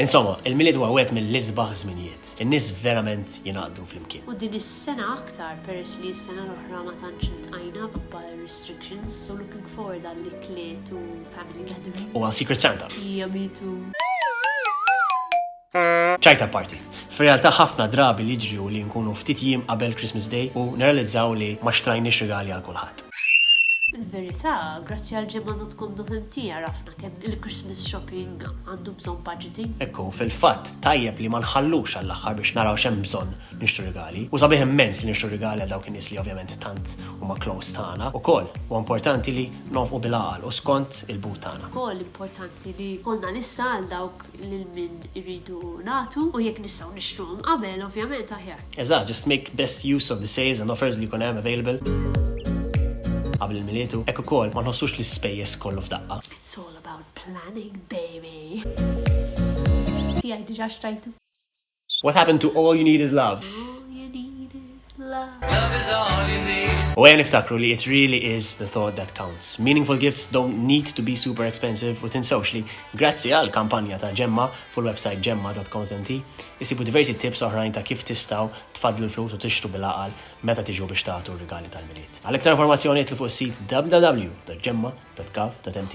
Insomma, il-Milied huwa wieħed mill-isbaħ żminijiet. In-nies verament jingħaqdu flimkien. U din is-sena aktar peress li s-sena l-oħra ma tantx iltqajna b'ba restrictions, so looking forward għal ikliet u family gathering. U għal Secret Santa. Hija mitu. Ċajta party. Fir-realtà ħafna drabi li ġri u li nkunu ftit jiem qabel Christmas Day u neralizzaw li ma xtrajniex regali għal kulħadd. Il-verità, grazzi għal ġimgħa dot com dot mt għarafna kemm il-Christmas shopping għandu bżonn budgeting. Ekku, fil-fatt tajjeb li ma nħallux għall-aħħar biex naraw x'hemm bżonn nixtru rigali. U sabiħ immens li nixtru rigali għal dawk in-nies li ovvjament tant huma close tagħna. Ukoll, u importanti li nonfqu bil-għaqal u skont il-but tagħna. Ukoll importanti li konna lista għal dawk lil min iridu nagħtu u jekk nistgħu nixtruhom qabel ovvjament aħjar. Eżatt, just make best use of the sales and offers li jkun hemm available qabel il-miliet u hekk ukoll ma nħossux l-ispejjeż kollu f'daqqa. It's all about planning, baby. Tiegħi diġà xtrajtu. What happened to all you need is love? All you need is love. Love is all you need. U għen iftakru li it really is the thought that counts. Meaningful gifts don't need to be super expensive u tinsawx li grazzi għal kampanja ta' ġemma full website ġemma.com.nt Issibu diversi tips oħrajn ta' kif tistgħu tfaddlu l-flus u tixtru bil-għaqal meta tiġu biex tagħtu r-rigali tal-Milied. Għal iktar informazzjoni idħlu fuq is-sit www.gemma.gov.mt.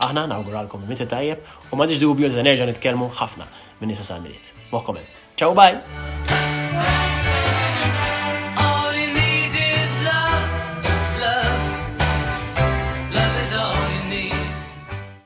Aħna nawguralkom il-Milied it-tajjeb u m'għandix dubju li se nerġa' nitkellmu ħafna minn issa sal-Milied. Moħħkom hemm. Ciao u bye!